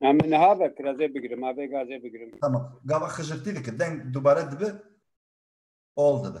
Em niha ve kirazê bigirim, avê gazê bigirim. Tamam. Gava xijirtî dike. Deng dubare dibe. Ol dibe.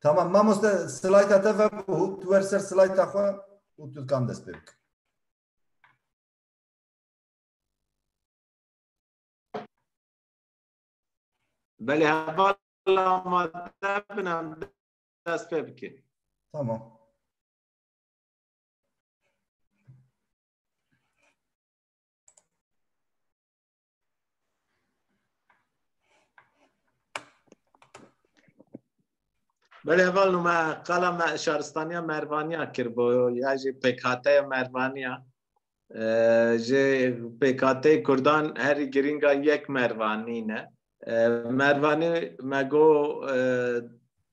Tamam mamoste slayta te ve bû tu wer ser slayta xwe û tu dikan dest pê bik. Belê heval amade bin em dest pê bikin. Tamam. Belê heval nû me qala me şaristaniya Mervaniya kir bo ya jî pêkhateya Mervaniya. ji pêkhateyê Kurdan herî girîngan yek Mervanî ne. Mervanî me go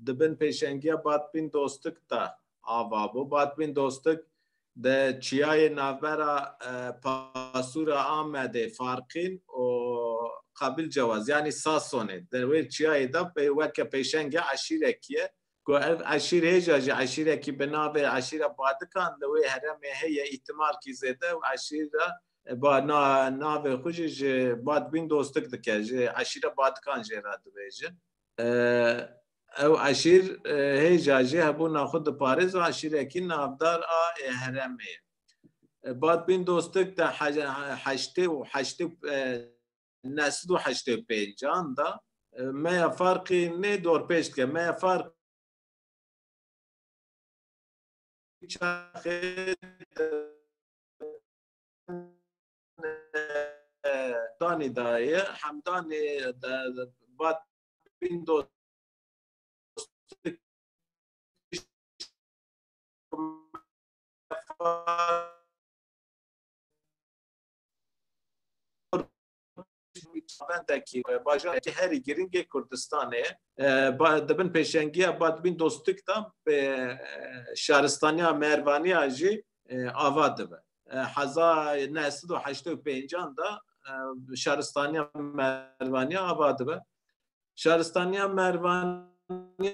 di bin pêşengiya Batbîn Dostik de ava bû. Batbîn Dostik di çiyayê navbera Pasûra Amedê, Farqîn û Qabil Cewaz yanî Sasonê di wê çiyayê de weke pêşengê eşîrekî ye. ku ev eşîrhêja ji eşîrekî bi navê Eşîra Badikan li wê heremê heye îhtimalkî zêde û eşîra ba na navê xwe jî ji Bad Bîn dostik dike jî Eşîra Badikan jê re dibêjin. Ew eşîr hêja jî hebûna xwe diparêz û eşîrekî navdar a ê heremê ye. Bad Bîn dostik di heştê û heştê neh sed û heştê û pênc an da me ya farqî nê dorpêç dike me ya farq danî daye hemdanê vat bîn dost Çavendekî bajarekî herî girîngê Kurdistanê di bin pêşengiya Badbîn Dostik de bi şaristaniya Mervaniya jî ava dibe. Heza neh sed û heştê û pêncan de şaristaniya Mervaniya ava dibe. Şaristaniya Mervaniya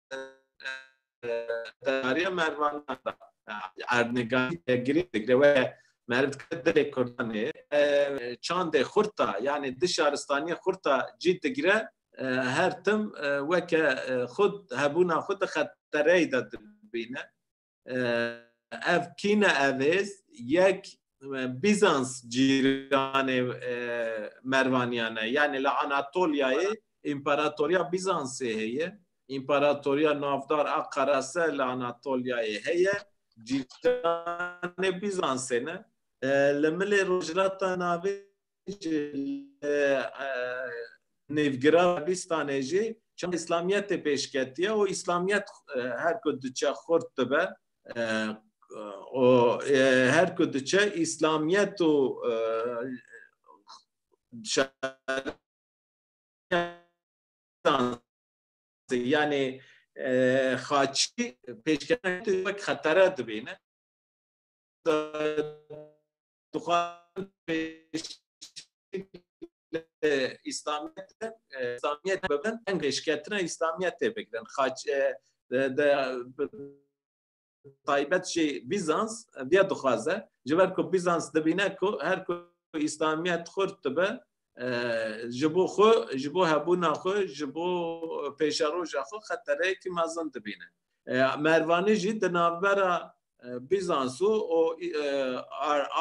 Dariya mervan erdnegariye girê digre we merv dikre dilê kurdanê çandê xurta yani di şaristaniye xurta cî digre her tim weke xud hebûna xud di xetereyê de dibîne ev kîne evêz yek Bizans cîranê Mervaniyan e. Yanî li Anatolyayê Împaratoriya Bizansê heye. Împaratoriya navdar a Qerase li Anatolyayê heye. Cîranê Bizansê ne. Li milê rojhilata navê jî li nêvgira Kurdistanê jî çend îslamiyetê pêşketiye û îslamiyet her ku diçe xurt dibe û her ku diçe îslamiyet û yanê xaçî pêşketî wek xetere dibîne. Dixwazin pêşî îslamiyetê îslamiyet bibin eng pêşketina îslamiyetê bigirin xaç taybet jî Bîzans diye dixwaze ji ber ku Bîzans dibîne ku her ku îslamiyet xurt dibe ji bo xwe, ji bo hebûna xwe, ji bo pêşeroja xwe xetereyekî mezin dibîne. Mervanî jî di navbera Bîzans û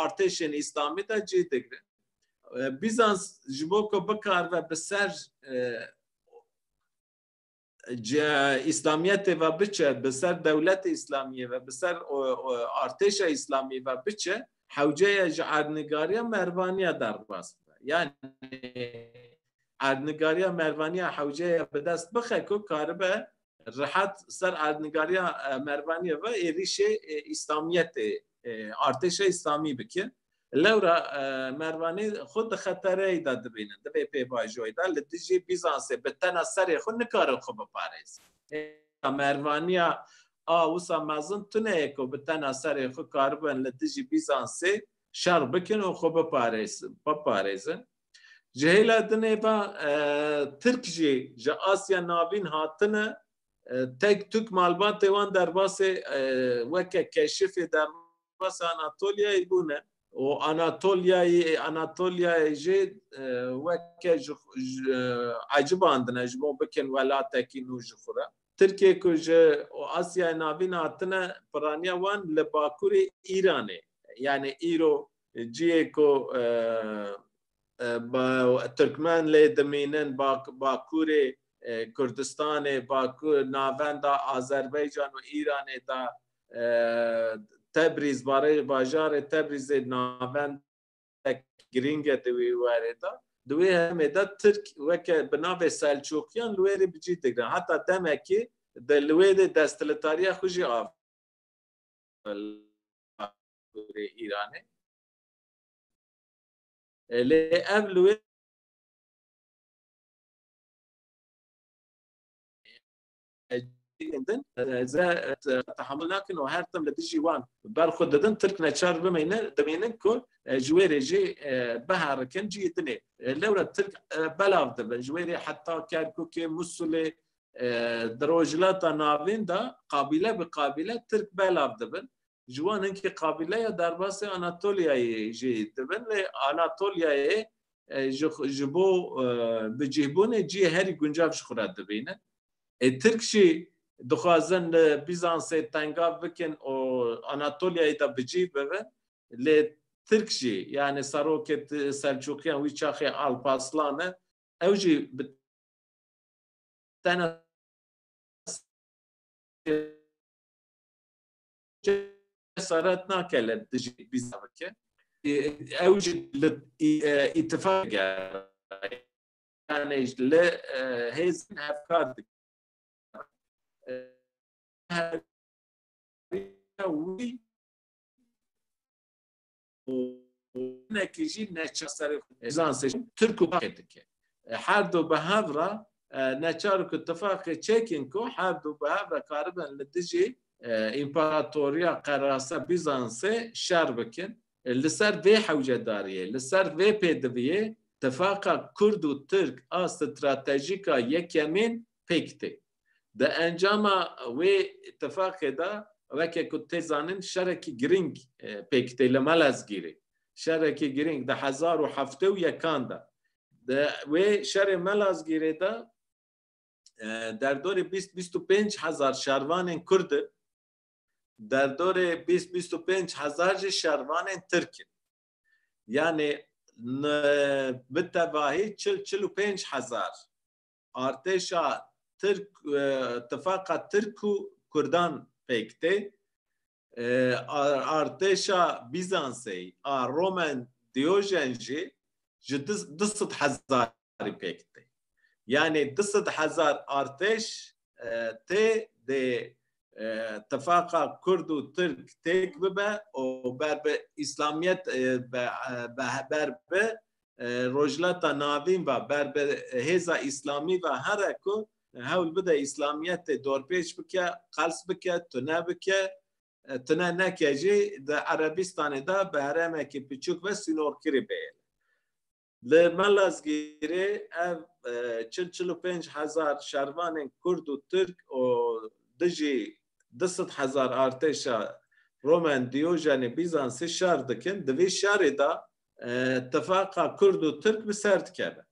artêşên Îslamî de cih digire. Bîzans ji bo ku bikaribe bi ser İslamiyetê ve biçe, bi ser dewletê İslamiyê ve, bi ser artêşa İslamiyê ve biçe, hewceye ji erdnigariya mervaniya derbas bibe. Yani erdnigariya mervaniya hewceye bi dest bixe ku karibe rehat ser erdnigariya mervaniya ve êrişê İslamiyetê, artêşa İslamî bike. Lewra mervanê xwe di xetereyê de dibînin, di vê pêvajoyê de li dijî Bîzansê bi tena serê xwe nikarin xwe biparêzin. Hêla mervaniya a wisa mezin tune ye ku bi tena serê xwe karibin li dijî Bîzansê şer bikin û xwe biparêzin. Ji hêla din ê va Tirk jî ji Asya Navîn hatine, tek tuk malbatê wan derbasê weke keşifê derman Sivas û Anatolyayê bûne. Û Anatolyayê Anatolyayê jî weke ji ecibandine ji bo bikin welatekî nû ji xwe re. Tirkiyê ku ji Asyayê Navîn hatine piraniya wan li bakurê Îranê yanî îro ciyê ku Tirkmen lê dimînin bakurê Kurdistanê, navenda Azerbaycan û Îranê de Tebrîz barê bajarê Tebrîzê navend girînge di wî werê de di wê hemê de Tirk weke bi navê Selçûkiyan li wê rê bi cî digre heta demekî di li wê dê desthilitariya xwe jî av rê Îranê lê ev li wê cihên din ze tehamul nakin û her tim li dijî wan berxwe didin, Tirk neçar bimeyne dimînin ku ji wê rê jî biherikin cihê din ê. Lewra Tirk belav dibin ji wê rê heta Kerkûkê, Mûsulê, di Rojhilata Navîn de qabîle bi qabîle Tirk belav dibin. ji wan in ki qabîleya derbasê Anatoliyayê jî dibin lê Anatoliyayê ji bo bicîhbûnê cîyê herî guncav ji xwe re dibînin. Ê Tirk jî dixwazin li Bîzansê tengav bikin û Anatoliyayê de bicîh bibin lê Tirk jî yanî serokê Selçûkiyan wî çaxê Alpaslan e ew jî bi tena cesaret nake li dijî bîza bike ew jî li îtifaq yani li hêzin hevkar dike wî hinekî jî neçar serê xwe ezan seçin tirk û kurdê dike. Her du bi hev re neçar ku tifaqê çekin ku her du bi hev re karibin li dijî Împaratoriya Qerase Bîzansê şer bikin. Li ser vê hewcedariyê, li ser vê pêdiviyê tifaqa kurd û tirk a stratejîk a yekemîn pêk tê. Di encama wê îtîfaqê de reke ku tê zanin şerekî girîng pêk tê li Melezgîrê. Şerekî girîng di hezar û heftê û yekan de di wê şerê Melezgîrê de derdorê bîst bîst û pênc hezar şervanên Kurd in, derdorê bîst bîst û pênc hezar jî şervanên Tirk in. Yanê bi tevahî çil çil û pênc hezar artêşa Tirk tifaqa Tirk û Kurdan pêk tê. Artêşa Bîzansê a Romen Diojen jî ji du sed hezarî pêk tê. Yanî du sed hezar artêş tê dê tifaqa Kurd û Tirk têk bibe û ber bi Îslamiyet ber bi Rojhilata Navîn ve ber bi hêza Îslamî ve here ku hewl bide Îslamiyetê dorpêç bike, qels bike, tune bike, tune neke jî di Erebistanê de bi herêmekî piçûk ve sînorkirî bêyene. Li Malazgîrê ev çil, çil û pênc hezar şervanên Kurd û Tirk û dijî du sed hezar artêşa Roman Dîojenî Bîzansî şer dikin. Di vî şerê de tifaqa kurd û tirk bi ser dikeve.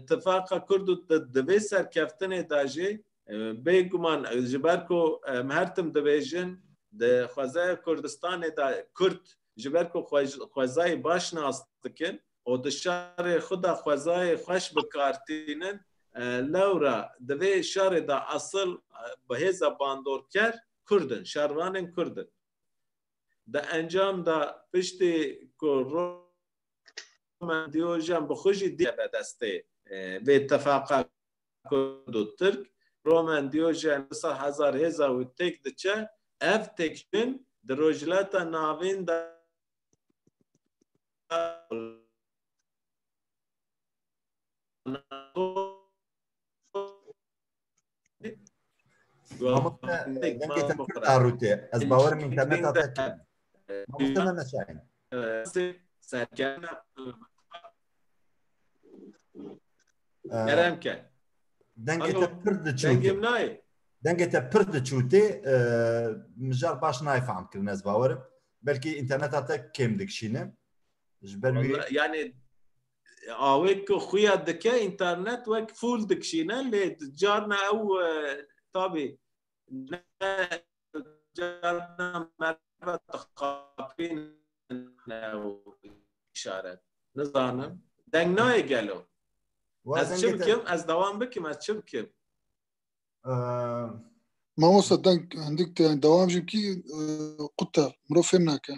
Tifaqa kurd û di vê serkeftinê de jî bêguman ji ber ku em her tim dibêjin di xwezaya Kurdistanê de kurd ji ber ku xwezayê baş nas dikin û di şarê xwe de xwezayê xweş bi kar tînin lewra di vê şarê de esil bi hêza bandorker kurd in, şarvanên kurd in. Di encam de piştî ku Roman Diojen bi xwe jî diye be destê vê tefaqa Kurd û Tirk, Roman Diojen wisa hezar hêza wî têk diçe, ev têkçûn di Rojhilata Navîn de Ez bawer min te ne tate te. Mamoste me mesayin. Serkeme Kerem ke. Dengê te pir diçûtê. Dengê te pir diçûtê mijar baş nayê fehm kirin ez bawerim. Belkî înterneta te kêm dikişîne. Ji ber wî yanê awê ku xuya dike internet wek fûl dikişîne lê carna ew e, tabî carna merve dixapînin ew îşaret. Nizanim deng nayê gelo. Ez çi bikim? Ez dewam bikim ez çi bikim? Mamosta deng hindik te dewam jî bikî qut te mirov fêm nake.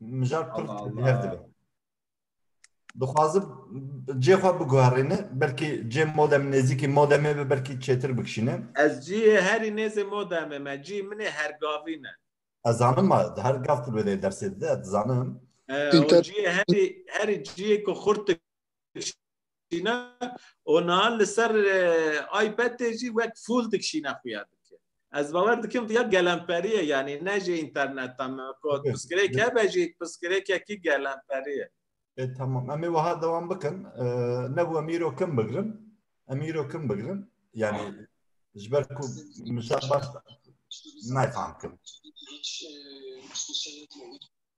Mijar pir hev dibe. Dixwazim cê xwe biguherîne, belkî cê modem nêzîkî modemê be belkî çêtir bikişîne. Ez ciyê herî nêzê modemê me, cî min ê Hergavîn e. Ez zanim ma di her gav tu bêdeyê dersê dide, ez dizanim. Ee, o Înter- ciyê herî herî ciyê ku xurt dikişîne dikişîne û nihan li ser iPadê jî wek fûl dikişîne xuya dike. Ez bawer dikim ya gelemperî ye yanî ne jî înterneta me ku piskirêk hebe jî piskirêkekî gelemperî ye. E tamam em ê wiha dewam bikin. Nebû em îro kim bigirin. Em îro kim bigirin. Yani ji ber ku min şer baş nayfam kim.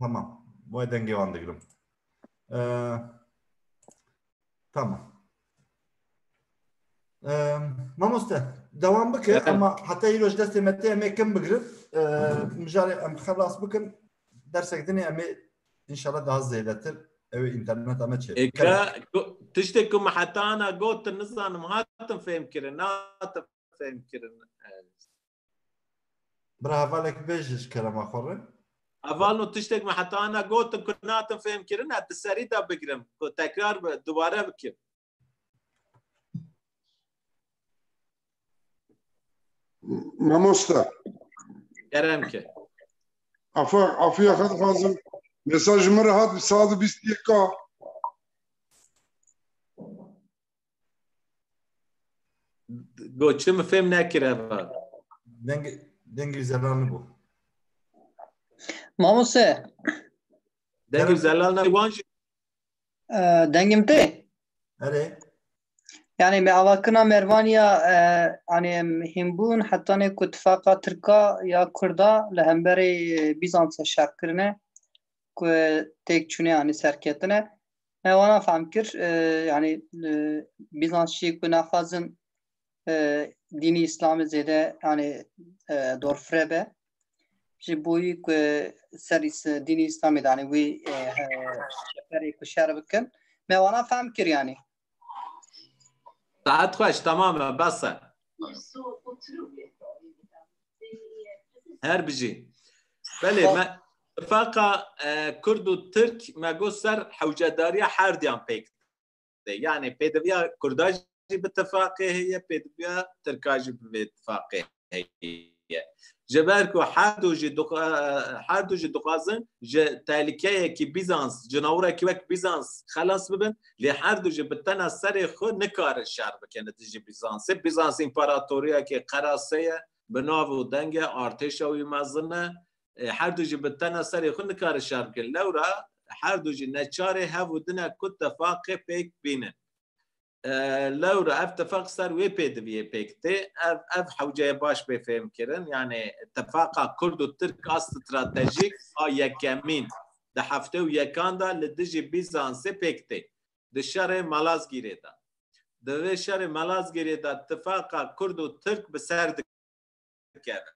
Tamam. Wê dengê wan digirim. Tamam. Mamoste devam bike ama heta îroj destê me tê em ê kim bigirin mijarê em xelas bikin dersek dinê em ê inşallah daha zêdetir ew ê înterneta me çê tiştê ku me heta ana gotin nizanim hatin fêhmkirin hatin fêhmkirin Bira hevalek bêj ji kerema xwe re. Heval no tiştek me heta ana gotin ku natin fêm kirin e di serî de bigirim ku tekrar bi dubare bikim. Mamosta. Kerem ki. Afa, afiya xat xazim. Mesaj mı rahat bir saat biz diye ka. Go çi mi fêm nekir heva. Deng deng zelal ne bu. Mamose. Deng zelal ne wan jî. Dengim te. Erê. Yani me avakina Mervaniya yani himbun hatta ne ku tifaka Tirka ya Kurda li hemberê Bîzansa şerkirine ku têk çûne yani serketine. Ne wana fam kir yani Bizansçî ku naxwazin dînî îslamê zêde yani dorfire be ji boyî ku ser dînî îslamê de yani wî şeferê ku şer bikin me wana fam kir yani Saat xweş tamam e bes e. Her bijî. Belê me faqa e, Kurd û Tirk me got ser hewcedariya her diyan pêk de. Yani pêdiviya Kurda jî bi tifaqê heye, pêdiviya Tirka jî bi vê tifaqê heye. Ji ber ku her du jî dixwa- her du jî dixwazin ji tehlikeyekî Bîzans, cinawirekî wek Bîzans xelas bibin, lê her du jî bi tena serê xwe nikarin şer bikin li dijî Bîzansê. Bîzans împaratoriyekê qerase ye, bi nav û deng e, artêşa wî mezin e. Her du jî bi tena serê xwe nikarin şer bikin. Lewra her du jî neçarê hev û din e ku tefaqê pêk bînin. Lewra ev tefaq ser wê pêdiviyê pêk tê. Ev ev hewceyê baş bê fêhmkirin. Yanê tefaqa kurd û tirk a stratejîk a yekemîn di heftê û yekan de li dijî Bîzansê pêk tê di şerê Malazgîrê de. Di vê şerê Malazgîrê de tifaqa Kurd û Tirk bi ser dikeve.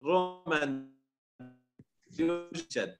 Romen Diyocen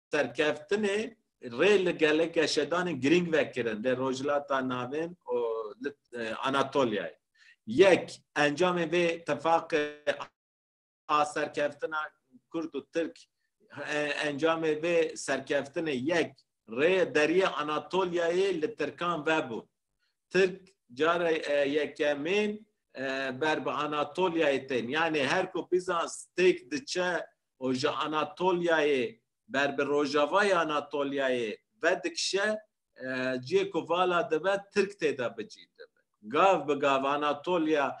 serkeftinê rê li geleke şedanên girîng ve kirin lê Rojhilata Navîn û li Anatolyayê. Yek, encamên vê tifaqê a serkeftina Kurd û Tirk encamê vê serkeftinê yek rê deriyê Anatolyayê li Tirkan ve bû. Tirk cara yekemîn ber bi Anatolyayê tên. Yanê her ku Bîzans têk diçe û ji Anatolyayê ber bi rojavayê Anatolyayê vedikişe, cihê ku vala dibe Tirk tê de bicî dibe. Gav bi gav Anatolya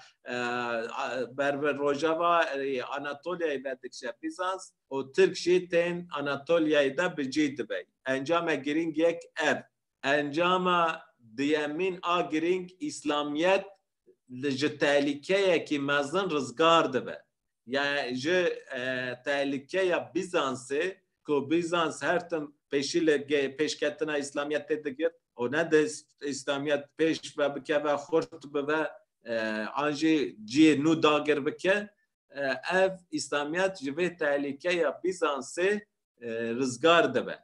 ber bi rojavayê Anatolyayê vedikişe Bîzans û Tirk jî tên Anatolyayê de bicî dibe. Encame girîng yek ev. Encama duyemîn a girîng Îslamiyet li ji tehlîkeyekî mezin rizgar dibe. Ya ji tehlîkeya Bîzansê ku Bîzans her tim pêşî li pêşketina Îslamiyetê digirt û ne di Îslamiyet pêş ve bikeve, xurt bibe an jî cihê nû dagir bike, ev Îslamiyet ji vê tehlîkeya Bîzansê rizgar dibe.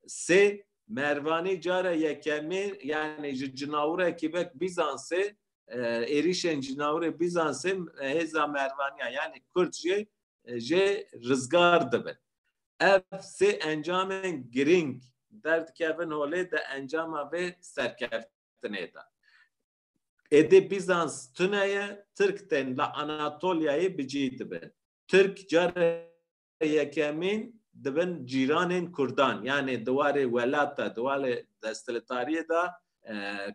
Sê, Mervanî cara yekemê yanî ji cinawrekî vek Bîzansê êrîşên cinawrê Bîzansê hêza Mervaniyan yanî Kurd jê jê rizgar dibin. Ev sê encamên girîng derdikevin holê di encama vê serkeftinê de. Êdî Bîzans tune ye, Tirk tên li Anatolyayê bi cî dibin. Tirk care yekemîn di bin cîranên Kurdan yanê di warê welat de, di warê desthiletariyê de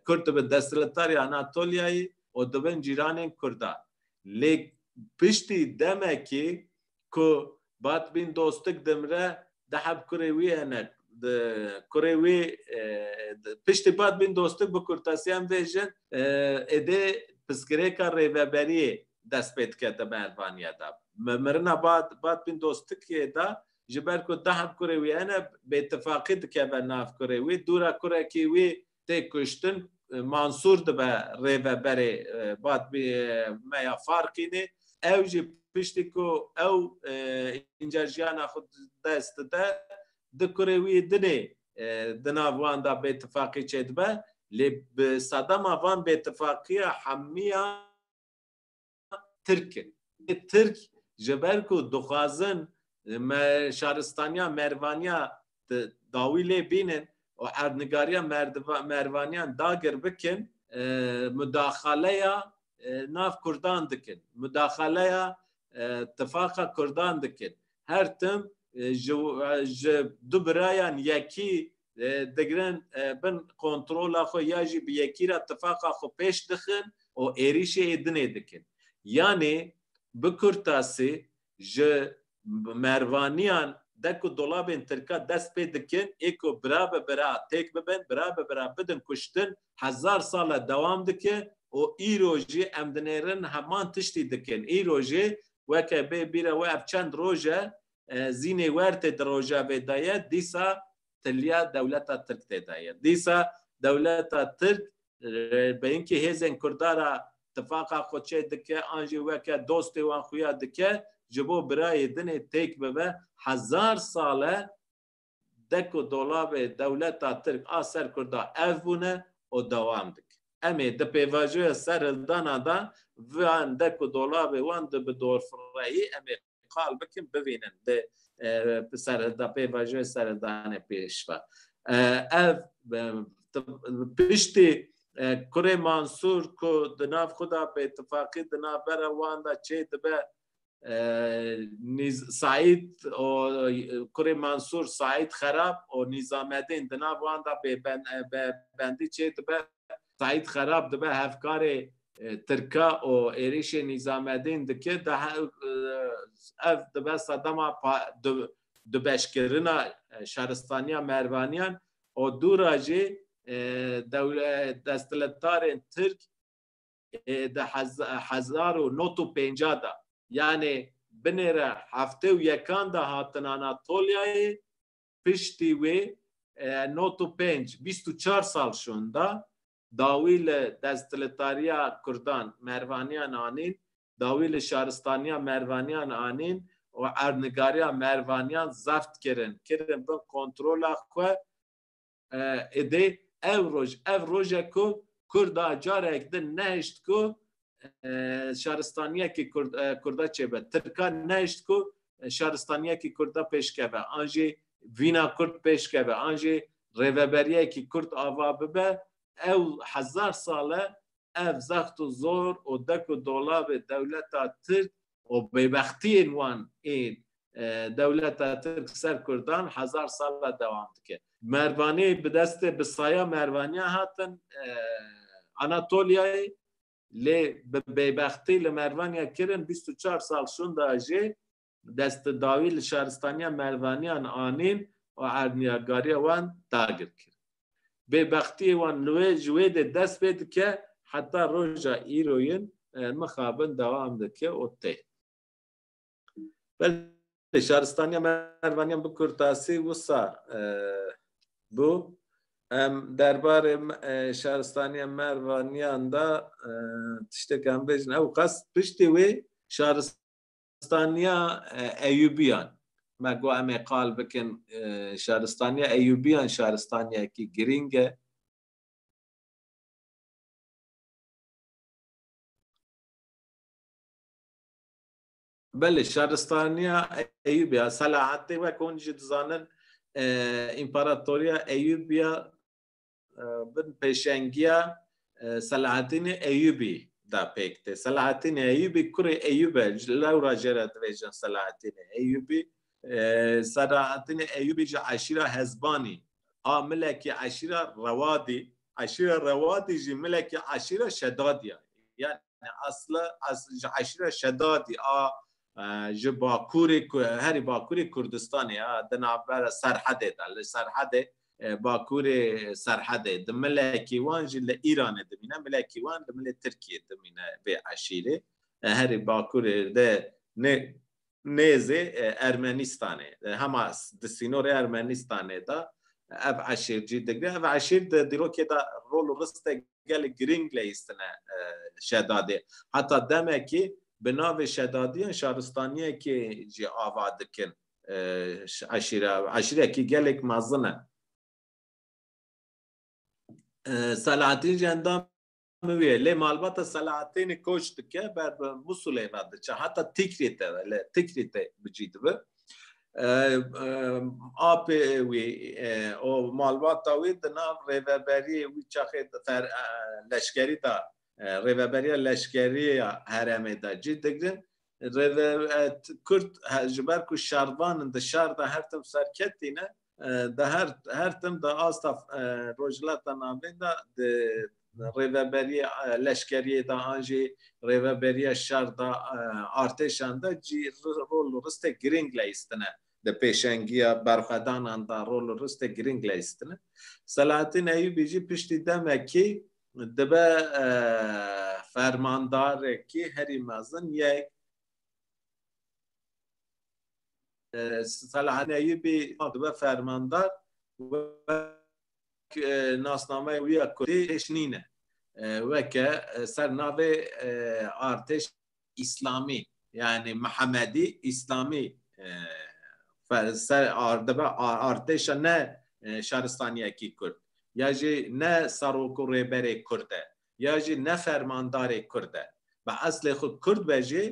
Kurd dibin desthiletarê Anatolyayê û di bin cîranên Kurdan. Lê piştî demekê ku Batbîn Dostik dimire diheb kurê wî hene di kurê wî piştî Batbîn Dostik bi kurtasiyan vê jin êdê piskirêka rêveberiyê dest pê dikete mehribaniyê de. Bi mirina Bat Batbîn Dostikiyê de ji ber ku dehan kurê wî hene bêtifaqî dikeve nav kurê wî. Dûra kurekî wî tê kuştin. Mansûr dibe rêveberê Batbî me ya Farkînê. Ew jî piştî ku ew încar jiyana xwe dest dide di kurê wî dinê di nav wan de bêtifaqî çêdibe. Lê bi sedema van bêtifaqiya hemiyan Tirk in. Tirk ji ber ku dixwazin me şaristaniya mervaniya dawî lê bînin û erdnigariya mervaniyan dagir bikin mudaxaleya nav kurdan dikin. Mudaxaleya tifaqa kurdan dikin. Her tim ji du birayan yekî digirin bin kontrola xwe ya jî bi yekî re tifaqa xwe pêş dixin û êrîşê ê dinê dikin. Yanê bi kurtasî ji mervaniyan de ku dolabên tirka dest pê dikin ê ku bira bi bira têk bibin, bira bi bira bidin kuştin hezar sal e dewam dike û îro jî em dinêrin heman tiştî dikin. Îro jî weke bê bîre we ev çend roj e Zînê wer tê di rojavê de ye, dîsa tiliya dewleta tirk tê de ye. Dîsa dewleta tirk bi hinkî hêzên kurda ra tifaqa xwe çê dike an jî weke dostê wan xuya dike ji bo birayê dinê têk bibe. Hezar sal e dek û dolabê dewleta Tirk a ser Kurda ev bûne û dewam dike. Em ê di pêvajoya serhildana de van dek û dolabê wan di bi dorfirehî em ê qal bikin bivînin li serhilda pêvajoya serhildanê pêş ve. Ev piştî kurê Mansûr ku di nav xwe de bêtifaqî di navbera wan de çê dibe Saîd û kurê Mansûr Saîd Xerab û Nîzamedîn di nav wan de bêbendî çêdibe. Saîd Xerab dibe hevkarê Tirka û êrîşê Nîzamedîn dike. Ev dibe sedema dubeşkirina şaristaniya Mervaniyan û dûra jî desthilatdarên Tirk di hezar û nod û pêncah de yanê binê re heftê û yekan de hatin Anatoliayê piştî wê nod û pênc, bîst û çar sal şonda dawî li desthiletariya kurdan Mervaniyan anîn, dawî li şaristaniya Mervaniyan anîn û erdnigariya Mervaniyan zebt kirin, kirin bin kontrola xwe. Êdî ev roj ev roj e ku Kurd a carek din nehişt ku şaristaniyekî Kurd a çêbe. Tirk a nehişt ku şaristaniyekî Kurd a pêşkeve an jî vîna Kurd pêşkeve an jî rêveberiyekî Kurd ava bibe. Ew hezar sal e ev zext û zor û dek û dolabê dewleta Tirk û bêbextiyên wan ê dewleta Tirk ser Kurdan hezar sal e dewam dike. Mervanî bi destê bi saya Mervaniyan hatin Anatoliayê lê bi bêbextî li Mervaniya kirin bîst û çar sal şûnda jê destidawî li şaristaniya Mervaniyan anîn û erdniyargariya wan dagir kirin. Bêbextiyê wan li wê ji wê de dest pê dike heta roja îroyin mixabin dewam dike û tê. Belê şaristaniya Mervaniyan bi kurtasî wisa bû. Em derbarê şaristaniya Mervaniyan de tiştek em bêjin. Ewqas piştî wê şaristaniya Şaristaniya Eyûbiyan Me got em ê qal bikin Şaristaniya Eyûbiyan şaristaniyekî girîng e. Belê şaristaniya Eyûbiya Selahattî wek hûn jî dizanin Împaratoriya Eyûbiya bin pêşengiya Selahattinê Eyûbî da pêk tê. Selahattinê Eyûbî kurê Eyûb e. Ji lewra jê re dibêjin Selahattinê Eyûbî. Selahattinê Eyûbî ji eşîra Hezbanî a milekî eşîra Rewadî. Eşîra Rewadî jî milekî eşîra Şedadî ya. Yani asla ji eşîra Şedadî a ji bakurê herî bakurê Kurdistanê ya di navber serhedê de li serhedê bakurê serhedê di milekî wan jî li Îranê dimîne milekî wan li milê Tirkiyê dimîne vê eşîrê herî bakurê de nê nêzê Ermenîstanê hema di sînorê Ermenîstanê de ev eşêr cî digre ev eşêr di dîrokê de rol û ristek gelek girîng leyîstine şedadê. Heta demekî bi navê şedadiyan şaristaniyekê jî ava dikin. Eşîre eşîrekî gelek mezin e. Selahattin jî endam wê lê malbata Selahattinê koç dike ber bi Musulê ve diçe heta Tikrîtê ve li Tikrîtê bicî dibe. Apê wî û malbata wî di nav rêveberiyê wî çaxê leşkerî de rêveberiya leşkerî ya herêmê de cî digirin. Kurd ji ber ku şervan in di şer de her tim serketîne Di her her tim de asta Rojhilata Navîn de di rêveberiya leşkeriyê de an jî rêveberiya şer de artêşan de cî rol û ristek girîng leyîstine. Di pêşengiya berxwedanan de rol û ristek girîng leyîstine. Selahatîn Eyûbî jî piştî demekî dibe fermandarekî herî mezin yek. Selahattin Eyyûbî dibe fermandar wek nasnameyê wî ya kurdî hêj nîne. Weke ser navê artêş îslamî yanî mihemedî îslamî dibe artêşa ne şaristaniyekî kurd ya jî ne serok û rêberê kurd e. ya jî ne fermandarê Kurd e. Bi eslê xwe Kurd be jî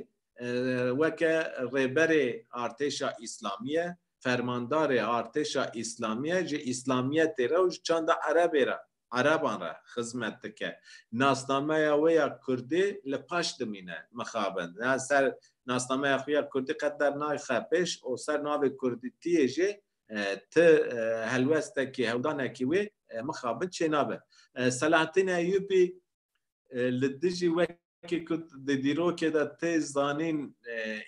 weke rêberê artêşa Îslamî ye, fermandarê artêşa Îslamî ye, ji Îslamîyetê re û ji çanda Erebê re, Ereban re xizmet dike. Nasnameya wê ya Kurdî li paş dimîne mixabin. Ser nasnameya xwe ya Kurdî qet dernaxe pêş û ser navê Kurdîtiyê jî ti helwestekî hewdanekî wê mixabin çênabe. Selahattin Eyyûbî li dijî wekî ku di dîrokê de tê zanîn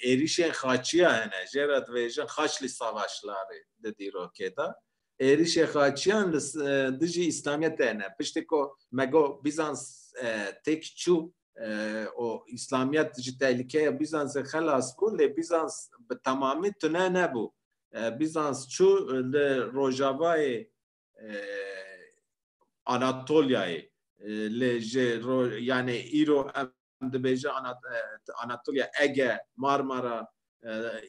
êrîşên xaçiya hene jê re dibêjin Haçlî Savaşlarî di dîrokê de êrîşê xaçiyan li dijî Îslamiyetê hene. Piştî ku me got Bîzans têk çû û Îslamiyet ji tehlikeya Bîzansê xelas bû lê Bîzans bi temamî tune nebû. Bîzans çû li rojavayê Anatolyayê li ji yanê îro em dibêje Anatolya Ege, Marmara,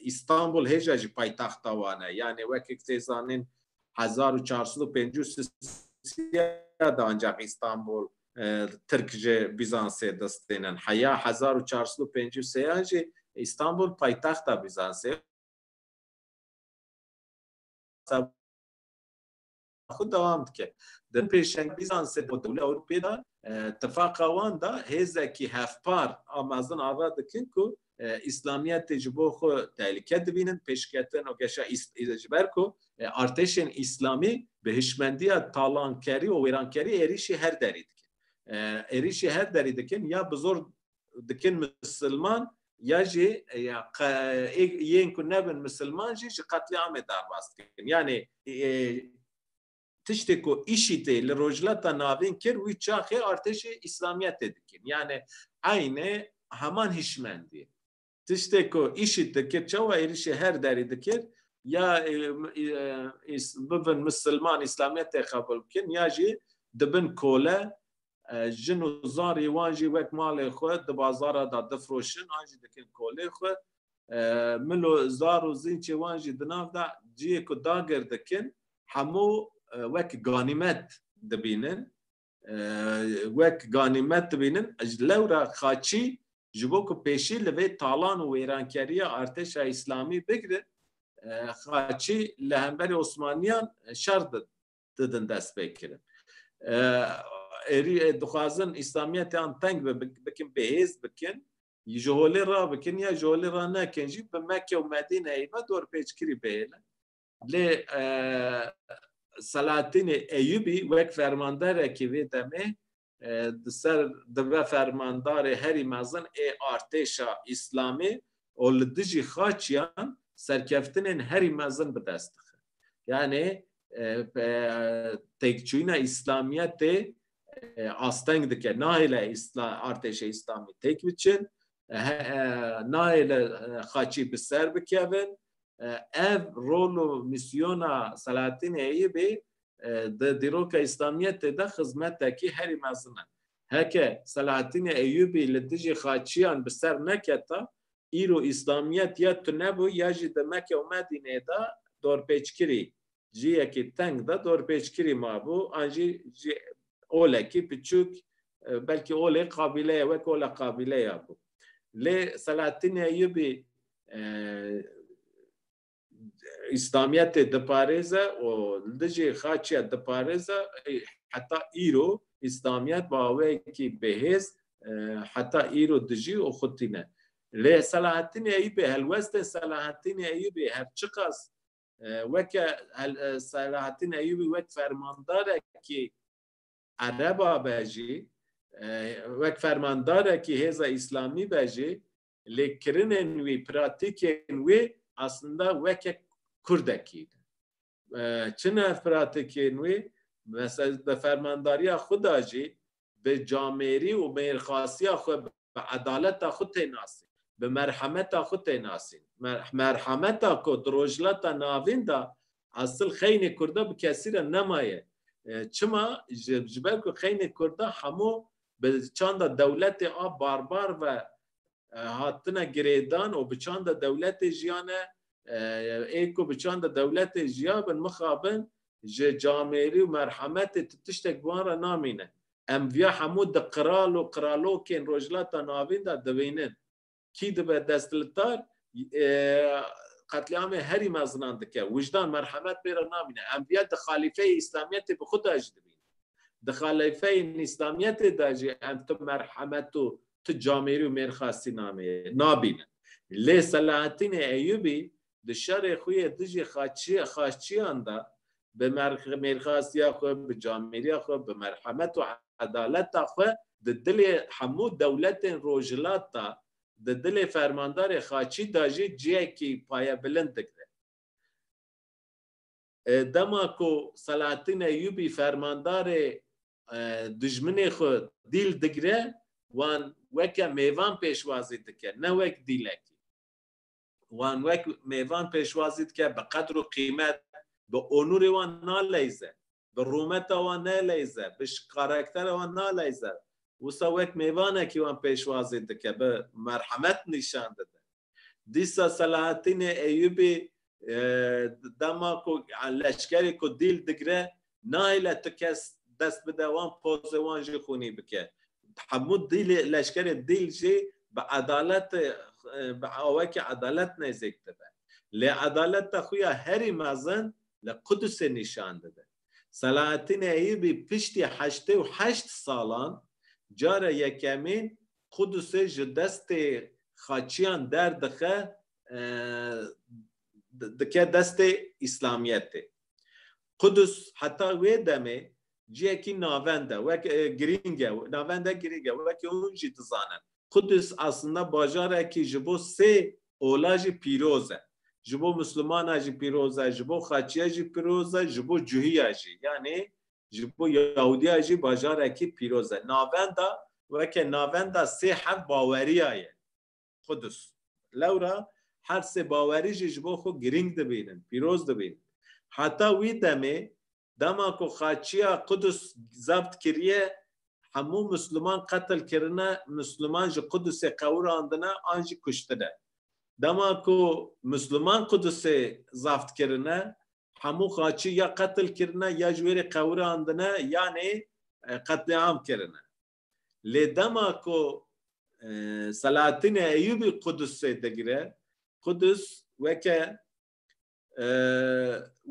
Îstanbul hêja jî paytexta wan e. Yanê wekî tê zanîn hezar û çar sed û pêncî û sîya de ancaq Îstanbul Tirk ji Bîzansê dest tênin. Heya hezar û çar sed û pêncî û sêyan jî Îstanbul paytexta Bîzansê xwe dewam dike. Di pêşengvîzan sê bo Dewlê Ewropê de tifaqa wan de hêzekî hevpar a mezin ava dikin ku îslamiyetê ji bo xwe tehlike dibînin pêşketin û geşa ji ber ku artêşên îslamî bi hişmendiya talankerî û wêrankerî êrîşî her derî dikin. Êrîşî her derî dikin ya bi zor dikin misilman ya jî ya yên ku nebin misilman jî ji qetlîamê derbas dikin. Yanê tiştê ku IŞİD'ê li Rojhilata Navîn kir wî çaxê artêşê Îslamiyetê dikin. Yanê eyne heman hişmendiyê. Tiştê ku IŞİD dikir çawa êrîşê her derî dikir ya bibin misilman îslamiyetê qebûl bikin ya jî dibin kole jin û zarê wan jî wek malê xwe di bazara da difroşin an jî dikin kolê xwe milo zar û zînçê wan jî di nav da ciyê ku dagir dikin hemû wek ganîmet dibînin wek ganîmet dibînin ji lewra xaçî ji bo ku pêşî li vê talan û wêrankeriya artêşa îslamî bigirin xaçî li hemberî Osmaniyan şer didin destpêkirin. Êrî dixwazin îslamiyetiyan teng bikin bêhêz bikin ji holê rabikin ya ji holê ranekin jî bi Mekke û Medîneyê ve dorpêçkirî bihêlin. Lê Selahattinê Eyubî wek fermanderekî vê demê di ser di ve fermandarê herî mezin ê artêşa îslamî û li dijî xaçiyan serkeftinên herî mezin bi dest dixe. Yanê têkçûyîna îslamiyetê asteng dike. Nahêle artêşê îslamî têk biçin, nahêle xaçî bi ser bikevin, ev rol û mîsyona Selahattinê Eyûbî bê di dîroka Îslamiyetê de xizmetekî herî mezin e. Heke Selahattinê Eyûbî li dijî xaçiyan bi ser neketa, îro Îslamiyet ya tunebû ya jî di Meke û Medînê de dorpêçkirî ciyekî teng de dorpêçkirî mabû an jî cî olekî piçûk belkî olê qabîleye wek ola qabîleya bû. Lê Selahattîn Eyyûbî İslamiyetê diparêze û li dijî xaçiya diparêze heta îro İslamiyet baweyekî bêhêz heta îro dijî û xwe tîne. Lê Selahattîn Eyyûbî helwestên Selahattîn Eyyûbî her çiqas Weke Selahattin Eyûbî wek fermandarekî ereba be jî, wek fermandarekî hêza îslamî be jî lê kirinên wî, pratîkên wî aslında weke kurdekî ne. Çi ne ev pratîkên wî? Mesela bi fermandariya xwe de jî bi camêrî û mêrxasiya xwe bi edaleta xwe tê nasîn, bi merhemeta xwe tê nasîn. Merhemeta ku di Rojhilata Navîn de esil xeynê Kurda bi kesî re nemaye. Çima? Ji ber ku xeynê Kurda hemû bi çanda dewletê a barbar ve hatine girêdan û bi çanda dewletê jiyane. Ê ku bi çanda dewletê jiyabin mixabin ji camêrî û merhemetê tu tiştek bi wan re namîne. Em viya hemû di qral û qralokên Rojhilata Navîn de dibînin. Kî dibe destlitar qetlîamê herî mezinan dike. Wijdan, merhemet pê re namîne. Em viya di xalîfeyê Îslamiyetê bi xwe de jî dibînin. Di xalîfeyên Îslamiyetê de jî em tu merhemet û tu camêrî û mêrxasî namê nabînin. Lê Selahattînê Eyyûbî di şerê xwe yê dijî xaçiyan de bi mêrxasiya xwe, bi camêriya xwe, bi merhemet û edaleta xwe di dilê hemû dewletên rojhilat de, di dilê fermandarê xaçî de jî cihekî payebilind digire. Dema ku Selahattîn Eyyûbî fermandarê dijminê xwe dîl digire, wan weke mêvan pêşwazî dike, ne wek dîlekî. wan wek mêvan pêşwazî dike, bi qedr û qîmet, bi onûrê wan naleyze, bi rûmeta wan neleyze, bi karakterê wan naleyze. Wisa wek mêvanekî wan pêşwazî dike, bi merhemet nîşan dide. Dîsa Selahattînê Eyyûbî dema ku leşkerê ku dîl digre Nahêle tu kes dest bide wan pozê wan jî xûnî bike. Hemû dîlê leşkerê dîl jî bi edalet bi awekî edalet nêzîk dibe. Lê edaleta xwe ya herî mezin li Qudusê nîşan dide. Selahattîn Eyûbî piştî heştê û heşt salan cara yekemîn Qudusê ji destê Xaçiyan derdixe dike destê Îslamiyetê. Qudus heta wê demê ciyekî navend e, wek girîng e, navend e girîng e, wekî hûn jî dizanin Qudus aslinde bajarekî ji bo sê ola jî pîroz e. Ji bo Muslimana jî pîroz e, ji bo Xaçiya jî pîroz e, ji bo Cuhiya jî yanî ji bo Yahudiya jî bajarekî pîroz e. Navenda weke navenda sê hev baweriya ye. Qudus. Lewra her sê bawerî jî ji bo xwe girîng dibînin, pîroz dibînin. Heta wî demê dema ku xaçiya Qudus zabt kiriye, hemû Misliman qetil kirine, Misliman ji Qudusê qewirandine an jî kuştine. Dema ku Misliman Qudusê zabt kirine, hemû xaçî ya qetil kirine, ya ji wê re qewirandine yanê qetlîam kirine. Lê dema ku Selahattinê Eyûbî Qudusê digire, Qudus weke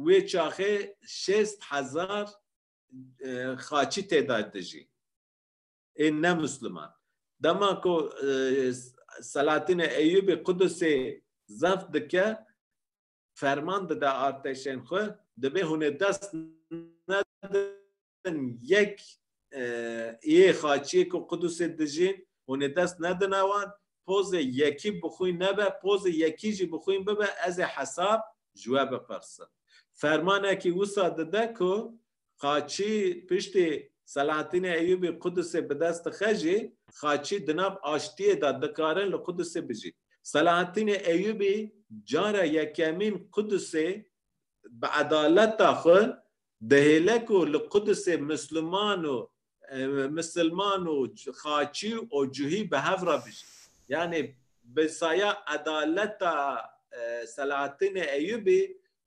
wê çaxê şêst hezar xaçî tê de dijî ê ne Musliman. Dema ku Selahattinê Eyûbî Qudusê zeft dike ferman dide artêşên xwe, dibê hûn ê dest nedin bin yek yê xaçiyê ku Qudusê dijîn hûn ê dest nedine wan, pozê yekî bi xwî nebe, pozê yekî jî bi xwîn bibe ez ê hesab ji we bipirsim. Fermanekî wisa dide ku xaçî piştî Selahattînê Eyûbî Qudusê bi dest dixe jî xaçî di nav aştiyê de dikarin li Qudusê bijîn. Selahattînê Eyûbî cara yekemîn Qudusê bi edaleta xwe Dihêle ku li Qudusê Musliman û Musilman û Xaçî û Cuhî bi hev re bijîn. Yanî bi saya edaleta Selahattînê Eyûbî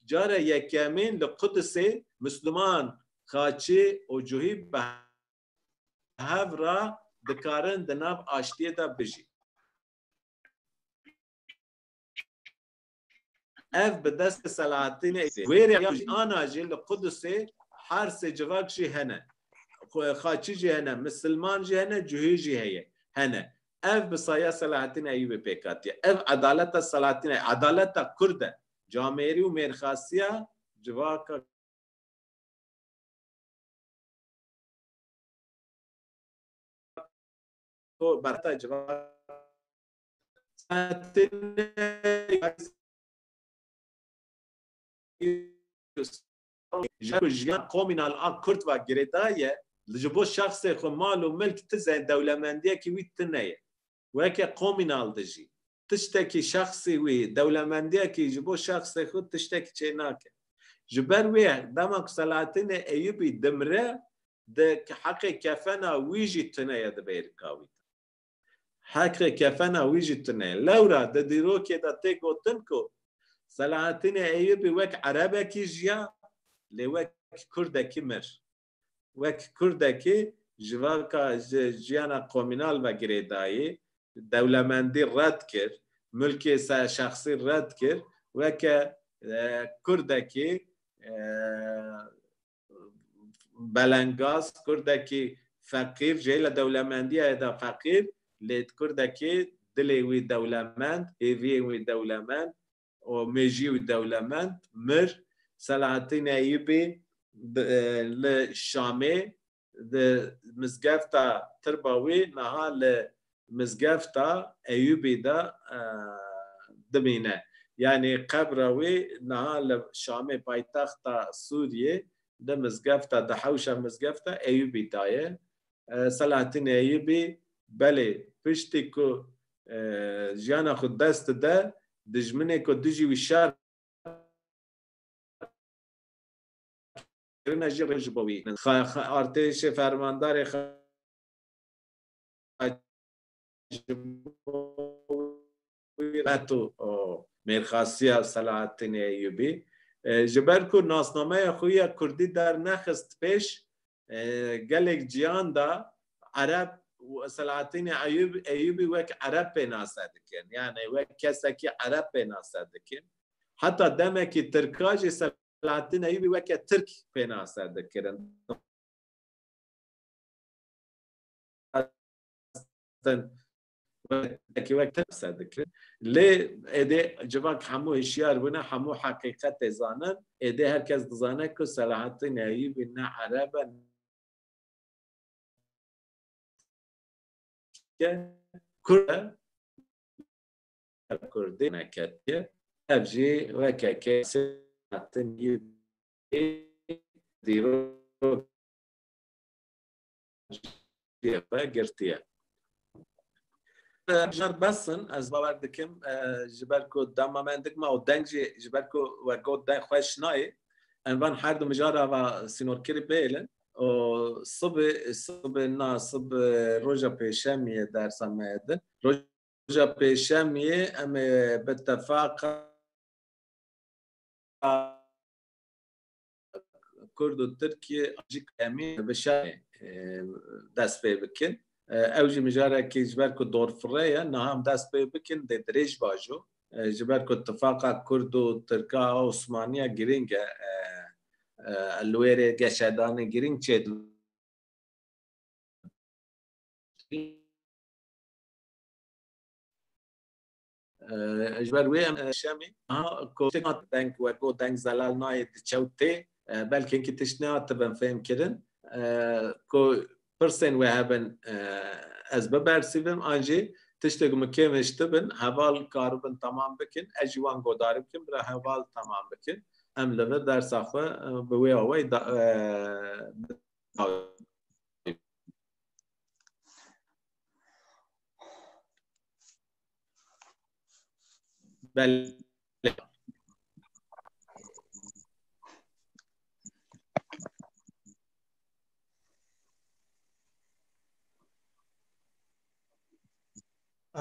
cara yekemîn li Qudusê Musliman, Xaçî û Cuhî bi hev re dikarin di nav aştiyê de bijîn. ev bi destê Selahattînê wêrê ya jî ana jî li Qudusê her sê civak jî hene. Xaçî jî hene, misilman jî hene, cuhî jî heye hene. Ev bi saya Selahattîn Eyûbê pêk hatiye. Ev edaleta Selahattîn Eyûb, edaleta Kurd e. Camêrî û mêrxasiya civaka berta civaka ji ku jiyan komînal a Kurd ve girêda ye, ji bo şexsê xwe mal û milk tize ye, dewlemendiyekî wî tune ye. Weke komînal dijî. Tiştekî şexsî wî, dewlemendiyekî ji bo şexsê xwe tiştekî çê nake. Ji ber wê dema ku Selahattinê Eyûbî dimire, di heqê kefena wî jî tune ye di bêrika wî de. Heqê kefena wî jî tune. Lewra di dîrokê de tê gotin ku Selahattînê Eyyûbî wek erebekî jiya lê wek kurdekî mir. Wek kurdekî civaka ji jiyana komînal ve girêdayî, dewlemendî red kir, milkê şexsî red kir, weke kurdekî belengaz kurdekî feqîr jê li dewlemendiyê de feqîr lê kurdekî dilê wî dewlemend hêviyên wî dewlemend û mêjî wî dewlemend mir Selahattîn Eyûbî li Şamê di mizgefta tirba wî niha li Mizgefta Eyûbî de dimîne. Yanî qebra wî niha li Şamê paytexta Sûriyê di mizgefta di hewşa mizgefta Eyûbî de ye. Selahattîn Eyûbî belê piştî ku jiyana xwe dest dide dijminê ku dijî wî şer kirine jî rê ji bo wî. Artêşê fermandarê reto mêrxasiya Selahattînê Eyûbî ji ber ku nasnameya xwe ya kurdî dernexist pêş gelek cihan de ereb Selahattînê Eyûbî wek ereb pênase dikin yanî wek kesekî ereb pênase dikin heta demekî tirka jî Selahattînê Eyûbî weke tirk pênase dikirin. xwestin wekî wek qise dikirin. Lê êdî civak hemû hişyar bûne, hemû heqîqetê zanin. Êdî her kes dizane ku Selahattîn Eyûbî ne Ereb e, ne Kurd e, Kurdî ne Ketiye. Ev jî weke kesê Selahattîn Eyûbî dîrok cihê xwe girtiye. Jar besin ez bawer dikim ji ber ku dema me dik ma û deng jî ji ber ku we got deng xweş nayê em van her du mijara va sînorkirî bêlin û sibê sibê na sib roja pêşemiyê dersa me ye din roja pêşemiyê em ê bi tefaqa Kurd û Tirkiyê ji kemî bi şerê dest pê bikin. Ew jî mijarekî ji ber ku dorfire ye, niha em dest pê bikin dê dirêj bajo. Ji ber ku tifaqa Kurd û Tirka a Osmanî ya girîng e. Li wê rê geşedanê girîng çê dibin. Ji ber wê em şemê kotina deng weko deng zelal nayê di çew tê belkê ki tişt nehatibin fêm kirin ku pirsên wê hebin ez bibersivim an jî tiştê ku min kêm hiştibin heval karibin tamam bikin ez jî wan godari bikin bira heval tamam bikin em li vir dersa xwe bi wê awayî Belê.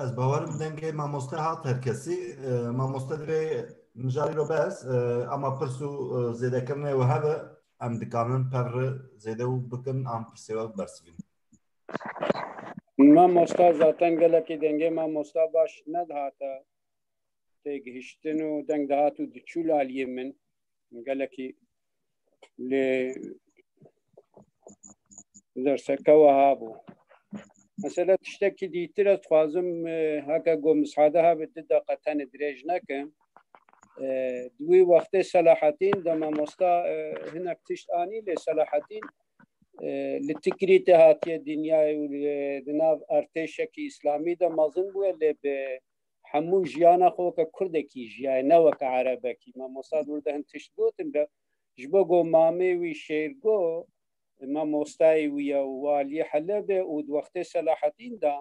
Ez bawerim dengê mamoste hat her kesî. E, Mamoste divê mijarî ro bes e, ama pirs û e, zêdekirinê û hebe em dikarin pevri zêde û bikin an pirsê we bibersivînin. Mamosta zaten gelekî dengê mamosta baş nedihate têgihiştin û deng dihat û diçû laliyê min gelekî lê derseke weha bû. Mesela tiştekî dîtir ez dixwazim e, heke got misade habe di deqa tenê dirêj nekim. E, Di wî wextê Selahatîn de mamosta e, hinek tişt anî lê Selahatîn li Tikrî tê hatiye dinyayê û di nav artêşekî îslamî de mezin bûye lê bi hemû jiyana xwe weke kurdekî jiyaye ne weke erebekî me mosad wir de hin tişt gotin be ji bo go mamê wî şêrgo me mostayê wî ye û waliyê helebê û di wextê selahetîn de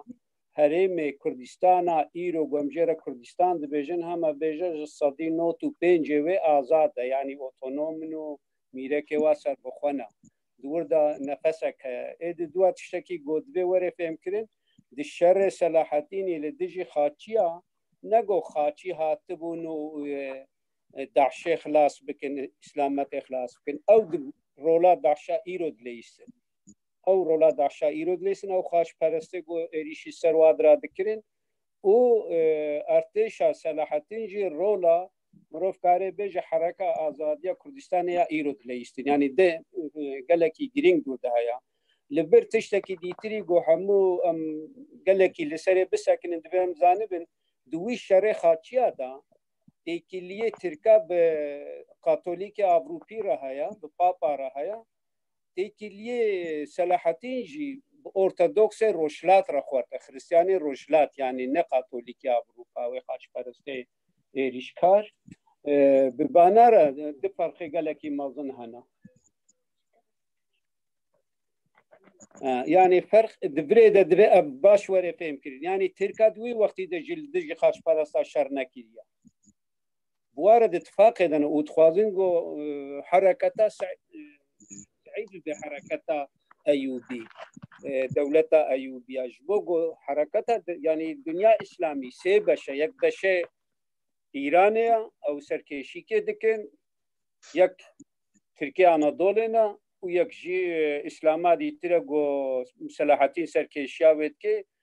herêmê kurdîstana îro gomjêre kurdîstan dibêjin heme bêje ji sedî not û pêncê wê azad e yanî otonomin û mîrekê wa serbixwe ne. Di wir de nefesek heye. Ê di duwa tiştekî got divê were fêmkirin, di şerê Selahaddînî li dijî Xaçiya ne go Xaçî hatibûn û DAIŞ'ê xilas bikin, Îslametê xilas bikin. Ew di rola DAIŞ'a îro dileyîstin. Ew rola DAIŞ'a îro dileyîstin, ew xaçperestê go êrîşî ser wadira dikirin û ertêşa Selahaddîn jî rola مرۆڤ karê bêje hereka azadiya Kurdistanê ya îro dileyîştin yanî di gelekî girîng dûr de heye. Li bir tiştekî dîtirî ku hemû em gelekî li serê bisekinin divê em zanibin di wî şerê xaçiya de têkiliyê Tirka bi Katolîkê Avrûpî re heye, bi Papa re heye. Têkiliyê Selahattin jî bi Ortodoksê Rojhilat re xwerte, Xristiyanê Rojhilat yanî ne Katolîkê Avrûpa wê xaçperestê êrîşkar bi banara di farqê gelekî mezin hene. Yani ferq di virê de divê ev baş were fêm kirin. Yani Tirka di wî wextî de ji li dijî xaçparasta şer nekiriye. Buware di tifaqê de ne û dixwazin ku hereketa Seîdî di hereketa Eyûbî dewleta Eyûbiya ji bo ku hereketa yanî dinya îslamî sê beşe yek beşe Îranê ya ew serkêşîkê dikin yek Tirkiye Anadolê ne û yek jî îslama dîtire ku Selahatîn serkêşiya wê dike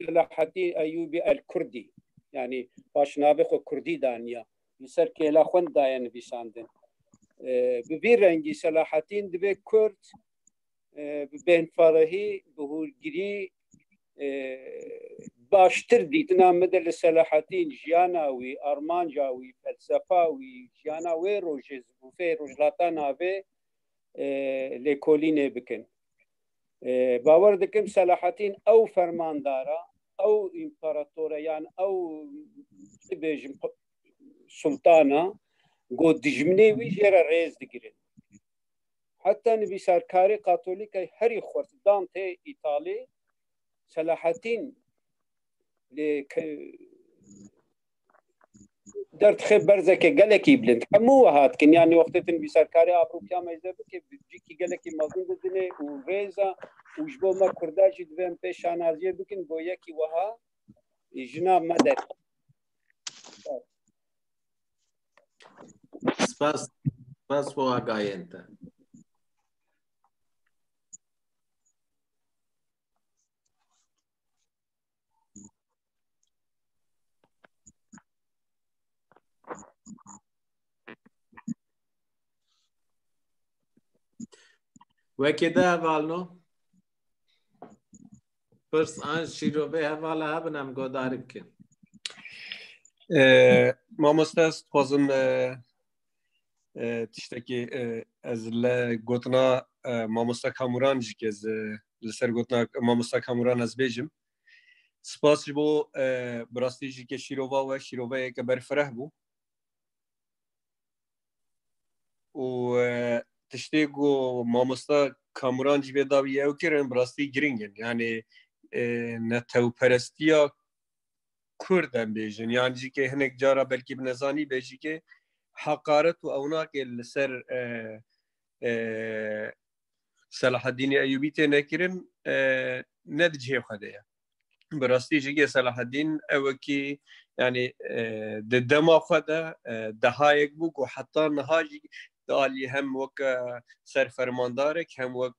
Selahaddin Eyyubi El Kurdi yani başnavê xwe Kurdî daniya li ser kêla xwe daye nivîsandin. Bi vî rengî Selahaddin divê Kurd bi bênfarehî bi hûrgirî baştir dîtina min de li Selahaddin jiyana wî, armanca wî, felsefa wî, jiyana wê rojê zibûfê rojhilata navê lêkolînê bikin. باwer dikim Selahattin ew fermandara ew împaratore yan ew bêjim sultana got dijminê wî jê re rêz digirin. Heta nivîsarkarê Katolîkay herî xurt Dante Îtalî Selahattin lê در تخێ berzeke gelekî bilind hemû we hat kin yanî wextê tu nivîsarkarê abrûpiya me ji de bikê cîkî gelekî mezin didinê û rêza û ji bo me kurda jî divê em pê şanaziyê bikin bo yekî wiha jina me de Spas, spas bo agayên te. Wekê de hevalno? Pirs an şîrovê hevala hebin em godarî bikin. Mamoste ez dixwazim tiştekî ez le gotina mamosta Kamuran jî kez li ser gotina mamosta Kamuran ez bêjim spas ji bo bi rastî jî ke şîrova we şîroveyeke berfireh bû û tiştê ku mamosta Kamuran jî vê dawî ew kirin bi rastî giringin yanê netewperestiya Kurd em bêjin yan jî kê hinek cara belkî bi nezanî bê jî kê heqaret û ewnakê li ser Selahaddînî Eyûbî tê nekirin ne di cihê xwe de ye. Bi rastî jî kê Selahaddîn ew wekî yani di dema xwe de dehayek bû ku heta niha jî di alî hem wek serfermandarek hem wek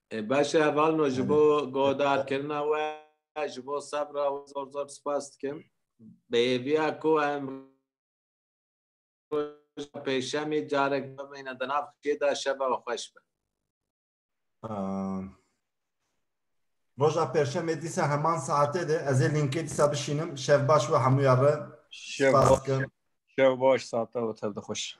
Baş e Valno ji bo guhdarkirina we ji bo sebra we zor zor spas dikim. Bêyêviya ku em pêşemî carek bimîne di nav xê de şeva xweş be. Roja pêşemê dîsa heman saetê de ez ê linkê dîsa bişînim. Şev baş we hemûya re. Şev baş. Şev baş saeta we tev dixweş.